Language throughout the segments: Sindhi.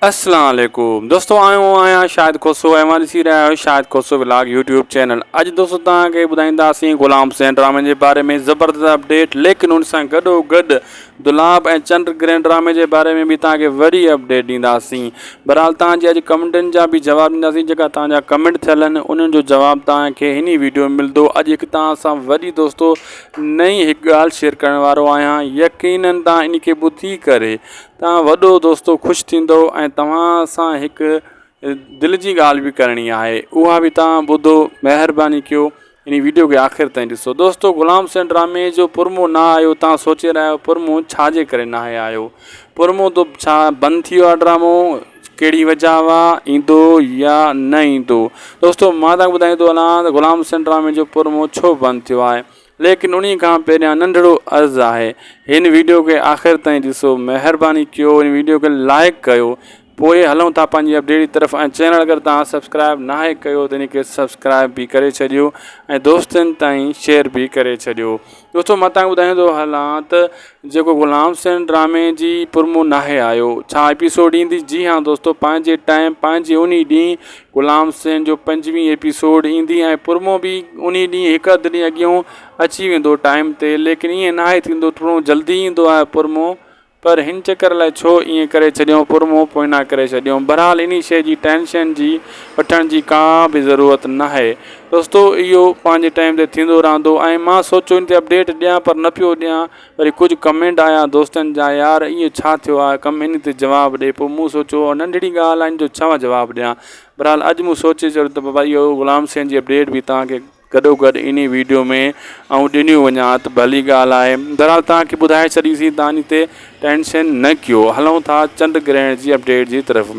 اسلام عليڪم دوستو آئون آهيان شاهد کوسو ۽ اوهان ڏسي رهيا آهيو Shahid Khoso vlog YouTube channel اڄ دوستو توهان کي ٻڌائينداسين غلام حسين ڊرامي جي باري ۾ زبردست اپڊيٽ ليڪن ان سان گڏو گڏ دلاب ۽ چنڊ گرهن ڊرامي جي باري ۾ به توهان کي وڏي اپڊيٽ ڏينداسين بهرحال توهان جي اڄ ڪمنٽن جا به جواب ڏينداسين جيڪا توهان جا ڪمنٽ ٿيل آهن انهن جو جواب توهان کي هن ويڊيو ۾ ملندو اڄ هڪ توهان سان وڏي دوستو نئين هڪ ڳالهه شيئر ڪرڻ وارو آهيان يقينن توهان ان کي ٻڌي ڪري توهان وڏو دوستو خوش ٿيندو ۽ توهان سان هڪ دل جي ڳالهه به ڪرڻي آهي اها به توهان ٻڌو مهرباني ڪيو ان ويڊيو کي آخر تائين ڏسو دوستو غلام حسين ڊرامي جو پرمو نه آيو توهان سوچي رهيا آهيو پرمو ڇا جي ڪري ناهي آيو پرمو تو ڇا بند ٿي ويو آهي ڊرامو ڪهڙي وجهه هوا ايندو يا نه ايندو دوستو مان تان ٻڌائيندو هلان غلام حسين ڊرامي جو پرمو ڇو بند ٿيو آهي ليڪن انهي کان پهريان ننڍڙو عرض آهي هن ويڊيو کي آخر تائين ڏسو مهرباني ڪيو هن ويڊيو کي لائيڪ ڪيو پوء هلون ٿا پنهنجي اپڊيٽ جي طرف ۽ چينل اگر توهان سبسڪرائيب ناهي ڪيو ته ان کي سبسڪرائيب به ڪري ڇڏيو ۽ دوستن تائين شيئر به ڪري ڇڏيو دوستو مان توهان کي ٻڌايون ٿو هلان ته جيڪو غلام حسين ڊرامي جي پرمو ناهي آيو ڇا ايپيسوڊ ايندي جي ها دوستو پنهنجي ٽائيم پنهنجي انهي ڏينهن غلام حسين جو پنجوين ايپيسوڊ ايندي ۽ پرمو به انهي ڏينهن هڪ اڌ ڏينهن اڳيئون اچي ويندو ٽائيم تي ليڪن ايئن ناهي ٿيندو ٿورو جلدي ايندو آهي پرمو پر هن چڪر الائي ڇو ايئن ڪري ڇڏيئون پرمو پوئنا ڪري ڇڏيئون بھرحال انهي شئي جي ٽينشن جي وٺڻ جي ڪا به ضرورت ناهي دوستو اهو پنهنجي ٽائيم تي ٿيندو رهندو ۽ مان سوچو انهي تي اپڊيٽ ڏيان پر نه پيو ڏيان وري ڪجهه ڪمينٽ آيا دوستن جا يار ايئن ڇا ٿيو آ ڪم انهي تي جواب ڏي پوء مون سوچيو اها ننڍڙي ڳالهه آ ان جو ڇا جواب ڏيان بھرحال اڄ مون سوچي ڇڏيو ته بابا اهو غلام سين جي اپڊيٽ به توهان کي گڏو گڏ انهي ويڊيو ۾ آئون ڏنيون وڃان ته ڀلي ڳالهه آهي بھرحال توهان کي ٻڌائي ڇڏيسين توهان انهي تي ٽينشن نه ڪيو هلون ٿا چنڊ گرهڻ جي اپڊيٽ جي طرف.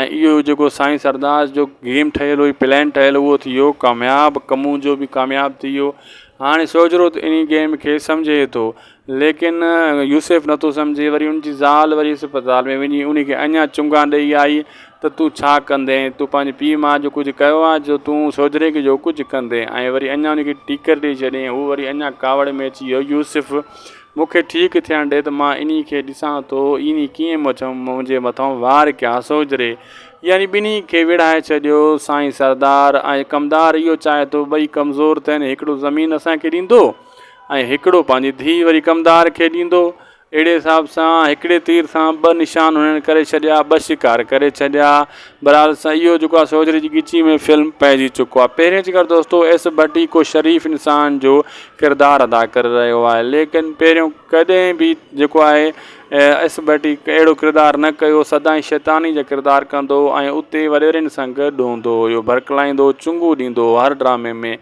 ۽ اهو جيڪو سائين سردار جو گيم ٺهيل هئي پلان ٺهيل اهو ٿي ويو ڪامياب ڪمون جو به ڪامياب ٿي ويو هاڻي سوجهرو ته انهي گيم کي سمجهي ٿو ليڪن يوسف نٿو سمجهي وري ان جي زال وري اسپتال ۾ وڃي انهي کي اڃا چونگا ڏئي آئي ته تون ڇا ڪندين تون پنهنجي پيء ماء جو ڪجهه ڪيو آهي جو تون سوجهري کي جو ڪجهه ڪندين ۽ وري اڃا انهي کي ٽيڪر ڏئي ڇڏين هو وري اڃا ڪاوڙ ۾ اچي ويو يوسف مون کي ٺيڪ ٿيڻ ڏي ته مان انهي کي ڏسان ٿو، ايني ڪيئن مچم، منهنجي مٿئون وار ڪيا سوجهري. يعني ٻنهي کي ويڙهائي ڇڏيو. سائين سردار ۽ ڪمدار اهو چاهي ٿو، ٻئي ڪمزور ٿين، هڪڙو زمين اسان کي ڏيندو ۽ هڪڙو پنهنجي ڌيء وري ڪمدار کي ڏيندو. اهڙي حساب سان هڪڙي تير سان ٻه نشان هنن ڪري ڇڏيا، ٻه شڪار ڪري ڇڏيا. بھرحال سائين اھو جيڪو آ سو ھوجري جي ڳچيء ۾ فلم پئجي چڪو آ. پهرين چڪر دوستو ايس ڀٽي ڪو شريف انسان جو ڪردار ادا ڪري رهيو آهي ليڪن پهريون ڪڏهن به جيڪو آهي ايس ڀٽي اهڙو ڪردار نه ڪيو سدائين شيطاني جا ڪردار ڪندو هو ۽ اتي وڏيرين سان گڏ هوندو هيو ڀرڪلائيندو هو چنگون ڏيندو هو هر ڊرامي ۾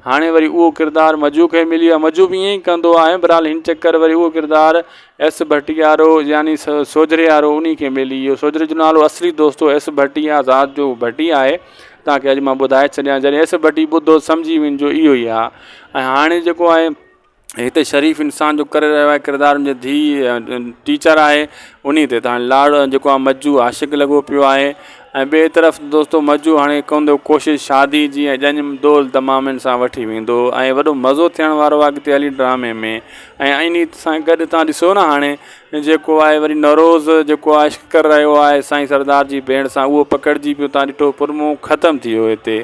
هاڻي وري اهو ڪردار مجو کي مليو آهي مجو به ائين ئي ڪندو آهي بھرحال هن چڪر وري اهو ڪردار ايس ڀٽيارو يعني سوجهريارو انهي کي ملي ويو. سوجهري جو نالو اصلي دوستو ايس ڀٽي آ ذات جو ڀٽي آهي. توهان کي اڄ مان ٻڌائي ڇڏيان جڏهن ايس ڀٽي ٻڌو سمجهي وڃ جو اهو ئي آ ۽ هاڻي جيڪو آهي هتي شريف انسان جو ڪري رهيو آهي ڪردار ان جي ڌيء ٽيچر آهي انهي تي لاڙ جيڪو آ مجو عاشق لڳو پيو آهي ۽ ٻئي طرف دوستو مجو هاڻي ڪندو ڪوشش شادي جي ۽ ڄڃ دول دمامين سان وٺي ويندو ۽ وڏو مزو ٿيڻ وارو آهي اڳتي هلي ڊرامي ۾ ۽ انهي سان گڏ تان ڏسو نه هاڻي جيڪو آهي وري نوروز جيڪو آهي عشق ڪر رهيو آهي سائين سردار جي ڀيڻ سان اهو پڪڙجي پيو تان ڏٺو پرمون ختم ٿي ويو هتي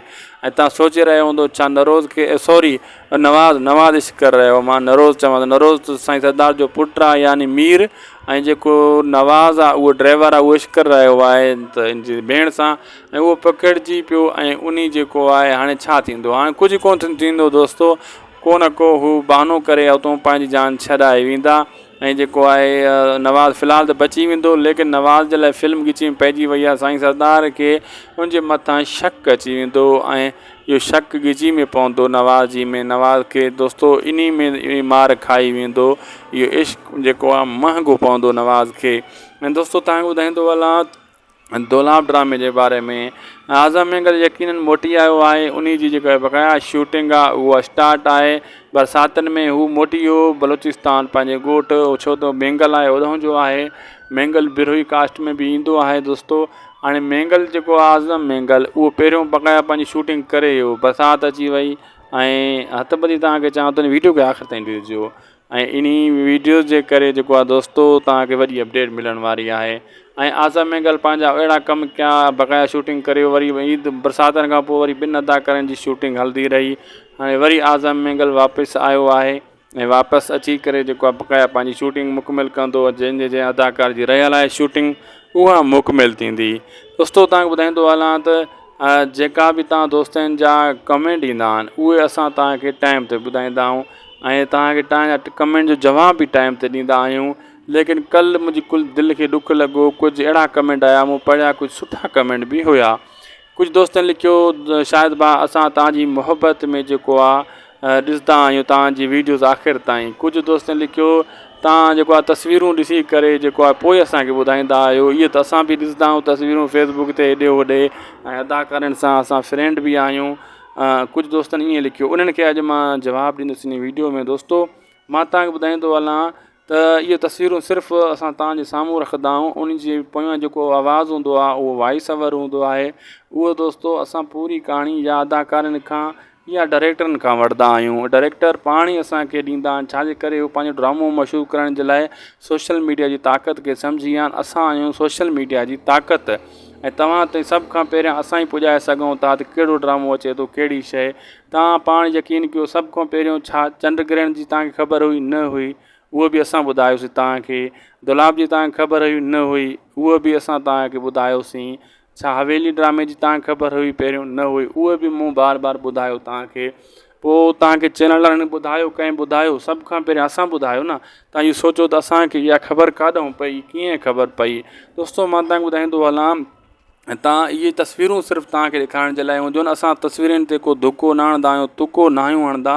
۽ تان سوچي رهيو هوندو ڇا نوروز کي سوري نواز، نواز عشق ڪر رهي هو. مان نروز چوان ٿو. نروز ته سائين سردار جو پٽ آ يعني مير ۽ جيڪو نواز آ اهو ڊرائيور آ اهو عشق ڪر رهي هو آهي ته ان جي ڀيڻ سان ۽ اهو پکڙجي پيو ۽ انهي جيڪو آهي هاڻي ڇا ٿيندو هاڻي ڪجهه ڪو نه ٿيندو دوستو ڪو نه ڪو هو بهانو ڪري اتون پنهنجي جان ڇڏائي ويندا ۽ جيڪو آهي نواز في الحال ته بچي ويندو ليڪن نواز جي لاء فلم ڳچيء ۾ پئجي وئي آ سائين سردار کي ان جي مٿان شڪ اچي ويندو ۽ اهو شڪ ڳجهي ۾ پوندو نواز جي ۾ نواز کي دوستو انهي ۾ اهڙي مار کائي ويندو اهو عشق جيڪو آ مهنگو پوندو نواز کي ۽ دوستو توهان کي ٻڌائيندو هلان دولاب ڊرامي جي باري ۾ اعظم مينگل يقينن موٽي آيو آهي انهي جي جيڪا بقايا شوٽنگ آ اهو اسٽارٽ آهي برساتن ۾ هو موٽي ويو بلوچستان پنهنجي ڳوٺ ڇو ته مينگل آهي اڏهون جو آهي مينگل بروهي ڪاسٽ ۾ به ايندو آهي دوستو هاڻي مينگل جيڪو آهي اعظم مينگل اهو پهريون بقايا پنهنجي شوٽنگ ڪري ويو برسات اچي وئي ۽ هٿ ٻڌي تان کي چوان ٿو هن ويڊيو کي آخر تائين ڏسجو ۽ انهي ويڊيو جي ڪري جيڪو آهي دوستو تان کي وڏي اپڊيٽ ملڻ واري آهي ۽ اعظم مينگل پنهنجا اهڙا ڪم ڪيا بقايا شوٽنگ ڪري وري عيد برساتن کان پوء وري ٻن اداڪارن جي شوٽنگ هلندي رهي هاڻي وري اعظم مينگل واپس آيو آهي ۽ واپس اچي ڪري جيڪو آهي بقايا پنهنجي شوٽنگ مڪمل ڪندو جنهن جي جنهن اداڪار جي رهيل آهي شوٽنگ اها مڪمل ٿيندي دوستو تان ٻڌائيندو هلان ته جيڪا به تان دوستن جا ڪمينٽ ايندا آهن اهي اسان تان کي ٽائم تي ٻڌائيندا آهيون ۽ تان کي تان جا ڪمينٽ جو جواب به ٽائم تي ڏيندا آهيون ليڪن ڪل منهنجي ڪل دل کي ڏک لڳو ڪجهه اهڙا ڪمينٽ آيا مون پڙهيا ڪجهه سٺا ڪمينٽ به هيا ڪجهه دوستن لکيو شاهد ڀاء اسان توهان جي محبت ۾ جيڪو آ ڏسدا آهيون توهان جي ويڊيوز آخر تائين ڪجهه دوستن لکيو توهان جيڪو آ تصويرون ڏسي ڪري جيڪو آ پوء اسان کي ٻڌائيندا آهيو اهي ته اسان به ڏسدا آهيون تصويرون فيس بڪ تي هيڏي هوڏي ۽ اداڪارين سان اسان فرينڊ به آهيون ڪجهه دوستن ائين لکيو انهن کي اڄ مان جواب ڏيندس انهي ويڊيو ۾ دوستو مان توهان کي ٻڌائيندو هلان ته اهي تصويرون صرف اسان توهان جي سامهون رکندا آهيون ان جي پويان جيڪو آواز هوندو آهي اهو وائيس اوور هوندو آهي اهو دوستو اسان پوري ڪهاڻي يا اداڪارن کان يا ڊائريڪٽرن کان وٺدا آهيون ڊائريڪٽر پاڻ ئي اسانکي ڏيندا آهن ڇا جي ڪري هو پنهنجو ڊرامو مشهور ڪرڻ جي لاء سوشل ميڊيا جي طاقت کي سمجهي ويا آهن اسان آهيون سوشل ميڊيا جي طاقت ۽ توهان تائين سڀ کان پهريان اسان ئي پڄائي سگهون ٿا ته ڪهڙو ڊرامو اچي ٿو ڪهڙي شيء توهان پاڻ يقين ڪيو سڀ کان پهريون ڇا چنڊ گرهڻ جي توهان کي خبر هئي؟ نه هئي، اهو به اسان ٻڌايوسين توهان کي. دولاب جي توهان کي خبر هئي؟ نه هئي، اهو به اسان توهان کي ٻڌايوسين. ڇا حويلي ڊرامي جي توهان کي خبر هئي پهريون؟ نه هئي، اهو به مون بار بار ٻڌايو توهان کي. پوء توهان کي چينل وارن ٻڌايو ڪنهن ٻڌايو؟ سڀ کان پهريان اسان ٻڌايو نه. توهان اهو سوچيو ته اسان کي اها خبر ڪاڏانهن پئي، ڪيئن خبر پئي؟ دوستو مان توهان کي ٻڌائيندو هلان تان اهي تصويرون صرف تان کي ڏيکارڻ جي لاء هونديون آهن اسان تصويرين تي ڪو ڌڪو نه هڻدا آهيون تڪو نه آهيون هڻدا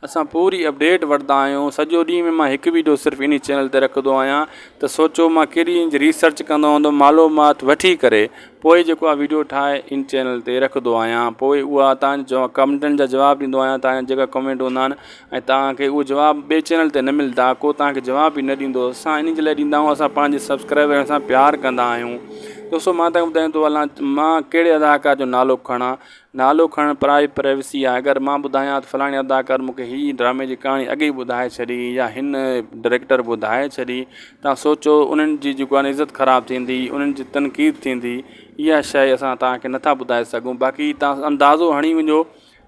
اسان پوري اپڊيٽ وٺدا آهيون سڄو ڏينهن ۾ مان هڪ ويڊيو صرف انهي چينل تي رکندو آهيان ته سوچو مان ڪيڏي انج ريسرچ ڪندو هوندم معلومات وٺي ڪري پوء جيڪو آهي ويڊيو ٺاهي ان چينل تي رکندو آهيان پوء اها تان جواب ڪمنٽن جا جواب ڏيندو آهيان تان جا جيڪا ڪمنٽ هوندا آهن ۽ توهان کي اهو جواب ٻئي چينل تي نه ملدا ڪو توهان کي جواب به نه ڏيندو اسان انهي جي لاء ڏيندا آهيون اسان پنهنجي سبسڪرائبرن سان پيار ڪندا آهيون دوستو مان توهان کي ٻڌايان ٿو هلان مان ڪهڙي اداڪار جو نالو کڻا نالو کڻڻ پرائي پرائيوسي آهي اگر مان ٻڌايان ته فلاڻي اداڪار مون کي هي ڊرامي جي ڪهاڻي اڳ ئي ٻڌائي ڇڏي يا هن ڊريڪٽر ٻڌائي ڇڏي توهان سوچو انهن جي جيڪو آهن عزت خراب ٿيندي انهن جي تنقيد ٿيندي اها شئي اسان توهان کي نٿا ٻڌائي سگهون باقي توهان اندازو هڻي وڃو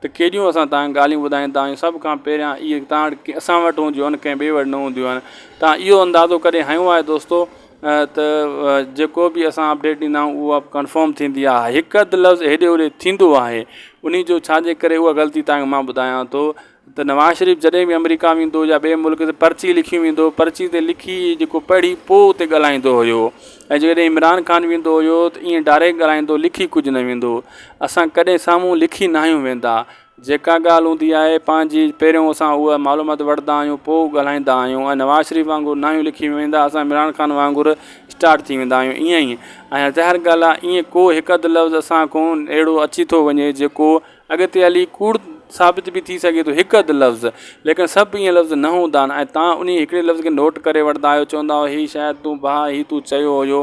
ته ڪيڏيون اسان تان ڳالهيون ٻڌائيندا آهيون، سڀ کان پهريان اهي تان وٽ اسان وٽ هونديون آهن، ڪنهن ٻئي وٽ نه هونديون آهن. تان اهو اندازو ڪڏهن هنيو آهي دوستو ته جيڪو به اسان اپڊيٽ ڏيندا آهيون اها ڪنفرم ٿيندي آهي، هڪ اڌ لفظ هيڏي هوڏي ٿيندو آهي، انهي جو ڇا جي ڪري اها غلطي تان کي مان ٻڌايان ٿو ته نواز شريف جڏهن به آمريڪا ويندو يا ٻئي ملڪ تي پرچي لکي ويندو پرچي تي لکي جيڪو پڙهي پوء اتي ڳالهائيندو هيو، ۽ جيڪڏهن عمران خان ويندو هيو ته ائين ڊائريڪٽ ڳالهائيندو لکي ڪجهه نه ويندو اسان ڪڏهن سامهون لکي ناهيون ويندا جيڪا ڳالهه هوندي آهي پنهنجي پهريون اسان اها معلومات وٺدا آهيون پوء ڳالهائيندا آهيون ۽ نواز شريف وانگر ناهيون لکي ويندا اسان عمران خان وانگر اسٽارٽ ٿي ويندا آهيون ائين ۽ ظاهر ڳالهه آهي ائين ڪو هڪ اڌ لفظ اسان کون اهڙو اچي ٿو وڃي جيڪو اڳتي هلي ڪوڙ ثابت به ٿي سگهي ٿو هڪ اڌ لفظ ليڪن سڀ ائين لفظ نه هوندا آهن ۽ توهان انهي هڪڙي لفظ کي نوٽ ڪري وٺندا آهيو چوندا آهيو هي شايد تون ڀاء هي تون چيو هيو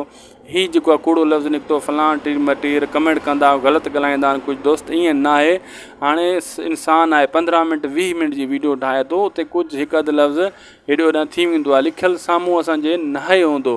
هي جيڪو آهي ڪوڙو لفظ نڪتو فلان ٽير مٽير ڪمينٽ ڪندا آهيو غلط ڳالهائيندا آهن ڪجهه دوست ائين نه آهي هاڻي انسان آهي پندرهن منٽ ويهه منٽ جي ويڊيو ٺاهي ٿو اتي ڪجهه هڪ اڌ لفظ هيڏي هوڏان ٿي ويندو آهي لکيل سامهون اسان جي ناهي هوندو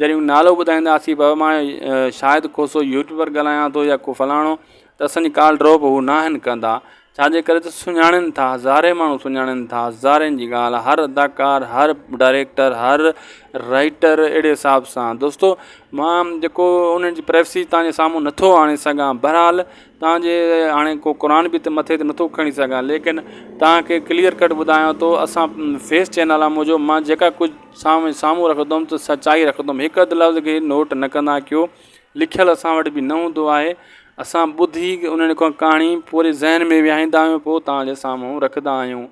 جڏهن نالو ٻڌائيندا آسي بابا مان شاهد کوسو يوٽيوبر ڳالهايان ٿو يا ڪو فلاڻو ته اسانجي ڪال ڊروپ هو نه آهن ڪندا ڇاجي ڪري ته سڃاڻن ٿا هزارين ماڻهو سڃاڻن ٿا هزارين جي ڳالهه هر اداڪار هر ڊائريڪٽر هر رائيٽر اهڙي حساب سان دوستو مان جيڪو انهن جي پريفسي تانجي سامهون نٿو آڻي سگهان بهرحال تانجي هاڻي ڪو قرآن به مٿي ته نٿو کڻي سگهان ليڪن تانکي ڪليئر ڪٽ ٻڌايان ٿو اسان فيس چينل آ منهنجو مان جيڪا ڪجهه سان ۾ سامهون رکندم ته سچائي رکندم هڪ اڌ لفظ کي نوٽ نه ڪندا ڪيو لکيل اسان وٽ به نه هوندو آهي اسان ٻڌي انهن کان ڪهاڻي پوري ذهن ۾ ويهائيندا آهيون پوء توهان جي سامهون رکندا آهيون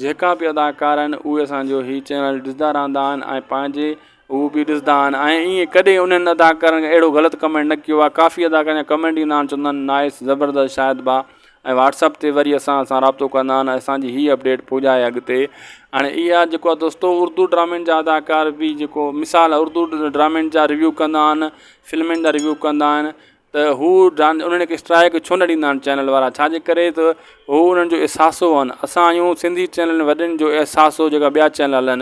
جيڪا به اداڪار آهن اهي اسان جو هي چينل ڏسندا رهندا آهن ۽ پنهنجي هو به ڏسندا آهن ۽ ائين ڪڏهن انهن اداڪارن اهڙو غلط ڪمينٽ نه ڪيو آهي ڪافي اداڪار جا ڪمينٽ ايندا آهن چوندا آهن نائس زبردست شاهد ڀاء ۽ واٽس اپ تي وري اسان سان رابطو ڪندا آھن اسان جي ھي اپڊيٽ پھجائي اڳتي ھاڻي اھا جيڪو آ دوستو اردو ڊرامين جا اداڪار بي جيڪو مثال اردو ڊرامين جا ريويو ڪندا آھن فلمين جا ريويو ڪندا آھن ته ھو انھن کي اسٽرائڪ ڇو نه ڏيندا آھن چينل وارا ڇا جي ڪري ته ھو انھن جو احساسو آھن اسان آھيون سنڌي چينل وڏن جو احساسو جيڪا ٻيا چينل ھلن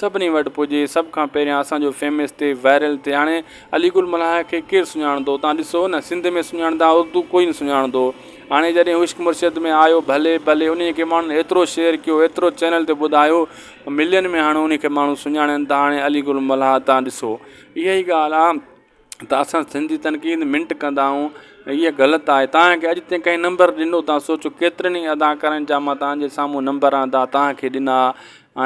سڀني وٽ پڄي سڀ کان پهريان اسان جو فيمس ٿئي وائرل ٿئي هاڻي علي گل ملاح کي ڪير سڃاڻندو تان ڏسو نه سنڌ ۾ سڃاڻندا اردو ڪوئي نه سڃاڻندو هاڻي جڏهن عشق مرشد ۾ آيو ڀلي ڀلي انهي کي ماڻهن ايترو شيئر ڪيو ايترو چينل تي ٻڌايو ملين ۾ هاڻي انهي کي ماڻهو سڃاڻين ٿا هاڻي علي گل ملاح تان ڏسو اها ئي ڳالهه آ ته اسان سنڌي تنقيد منٽ ڪندا آهيون ۽ اها غلط آهي تانکي اڄ تائين ڪنهن نمبر ڏنو تان سوچو ڪيترن ئي اداڪارن جا مان تانجي سامهون نمبر آندا تانکي ڏنا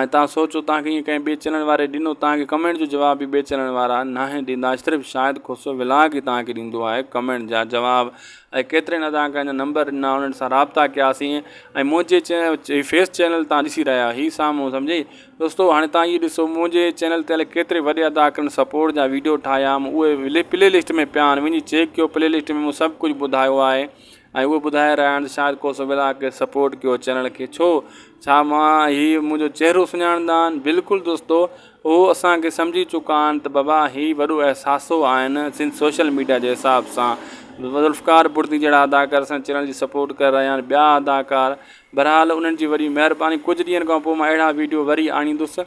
۽ تان سوچو تانکي ائين ڪنهن ٻي چينل واري ڏنو تانکي ڪمينٽ جو جواب به ٻي چينل وارا ناهن ڏيندا صرف شاهد کوسو ولاگ ئي تانکي ڏيندو آهي ڪمينٽ جا جواب ۽ ڪيترن اداڪارن جا نمبر ڏنا انهن سان رابطا ڪياسين ۽ منهنجي چينل فيس چينل تان ڏسي رهيا هي سامهون سمجهي دوستو هاڻي توهان هي ڏسو منهنجي چينل تي الائي ڪيتري وڏي اداڪرن سپورٽ جا ويڊيو ٺاهيا هم اهي پلي لسٽ ۾ پيا آهن وڃي چيڪ ڪيو پلي لسٽ ۾ مون سڀ ڪجهه ٻڌايو آهي ۽ اهو ٻڌائي رهيا آهن شايد ڪو سو ولا ڪي سپورٽ ڪيو چينل کي ڇو ڇا مان هي منهنجو چهرو سڃاڻندا آهن بلڪل دوستو اهو اسان کي سمجهي چڪا آهن ته بابا هي وڏو احساسو آهن سنڌ سوشل ميڊيا جي حساب سان ذوالفقار بڙدي جهڙا اداڪار اسان چينل جي سپورٽ ڪري رهيا آهن ٻيا اداڪار بھرحال انھن جي وڏي مھرباني ڪجھ ڏينھن کان پوء مان اھڙا ويڊيو وري آڻيندس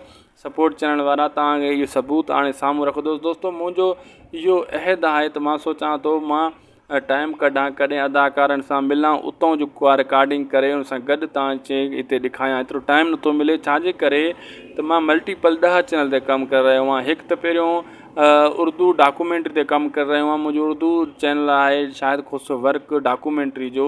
سپورٽ چينل وارا توھان کي اھو ثبوت آڻي سامھون رکندس دوستو منھنجو اھو عھد آھي ته مان سوچان ٿو مان ٽائيم ڪڍان ڪڏھن اداڪارن سان ملان اتان جو ڪا رڪارڊنگ ڪري ان سان گڏ توھان کي ھتي ڏيکايان ايترو ٽائيم نٿو ملي ڇاجي ڪري ته مان ملٽي پل ڏھه چينل تي ڪم ڪري رھيو آھيان ھڪ ته پھريون اردو ڊاڪومينٽري تي ڪم ڪري رھيو آھيان منھنجو اردو چينل آھي شاھد خوسرو ورڪ ڊاڪومينٽري جو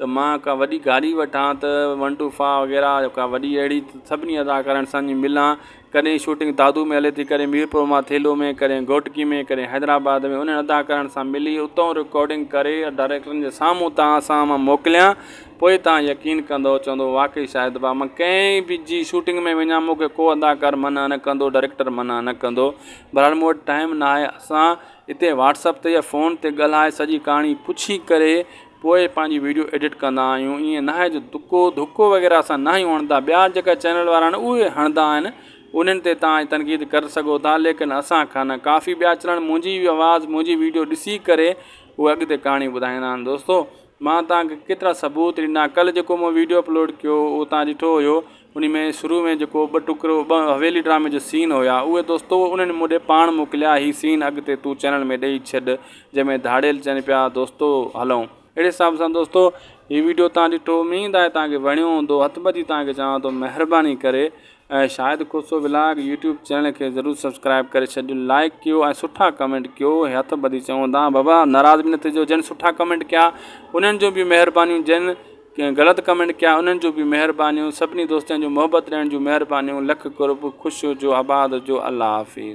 ته مان ڪا وڏي گاڏي وٺان ته ون ٽو فا وغيره يا ڪا وڏي اهڙي سڀني اداڪارن سان وڃي ملان ڪڏهن شوٽنگ دادو ۾ هلي ٿي ڪڏهن ميرپور ماء ٿيلهو ۾ ڪڏهن گهوٽڪي ۾ ڪڏهن حيدرآباد ۾ انهن اداڪارن سان ملي اتو رڪارڊنگ ڪري ڊائريڪٽرن جي سامهون توهان سان مان موڪليان پوء توهان يقين ڪندو چوندو واقعي شاهد ڀاء مان ڪنهن به جي شوٽنگ ۾ وڃان مون کي ڪو اداڪار منع نه ڪندو ڊائريڪٽر منع نه ڪندو بهرحال مون وٽ ٽائيم ناهي اسان هتي واٽس اپ تي يا فون تي ڳالهائي سڄي ڪهاڻي پڇي ڪري پوء پنهنجي ويڊيو ايڊٽ ڪندا آهيون ائين ناهي جو دڪو ڌڪو وغيره اسان ناهيون هڻدا ٻيا جيڪا چينل وارا آهن اهي هڻدا آهن انهن تي تان تنقيد ڪري سگهو ٿا ليڪن اسان کان نه ڪافي ٻيا چينل منهنجي آواز منهنجي ويڊيو ڏسي ڪري اهي اڳتي ڪهاڻي ٻڌائيندا آهن دوستو مان تان کي ڪيترا ثبوت ڏنا ڪل جيڪو مون ويڊيو اپلوڊ ڪيو هو تان ڏٺو هيو انهي ۾ شروع ۾ جيڪو ٻه ٽڪرو ٻه حويلي ڊرامي جو سين هيا اهي دوستو انهن مون ڏي پاڻ موڪليا هي سين اڳتي تون چينل ۾ ڏئي ڇڏ جنهن ۾ ڌاڙيل چين پيا دوستو هلون اهڙي حساب سان دوستو هي ويڊيو تان ڏٺو اميد آهي تان کي وڻيو هوندو هٿ ٻڌي تان کي چوان ٿو مهرباني ڪري ۽ Shahid Khoso vlog YouTube channel کي ضرور سبسڪرائب ڪري ڇڏجو لائڪ ڪيو ۽ سٺا ڪمينٽ ڪيو هي هٿ ٻڌي چون ٿا بابا ناراض به نه ٿيجو جن سٺا ڪمينٽ ڪيا انهن جون به مهربانيون جن ڪنهن غلط ڪمينٽ ڪيا انهن جون به مهربانيون سڀني دوستن جون محبت ڏيڻ جون مهربانيون لک قرب خوش هجو آباد هجو الله حافظ.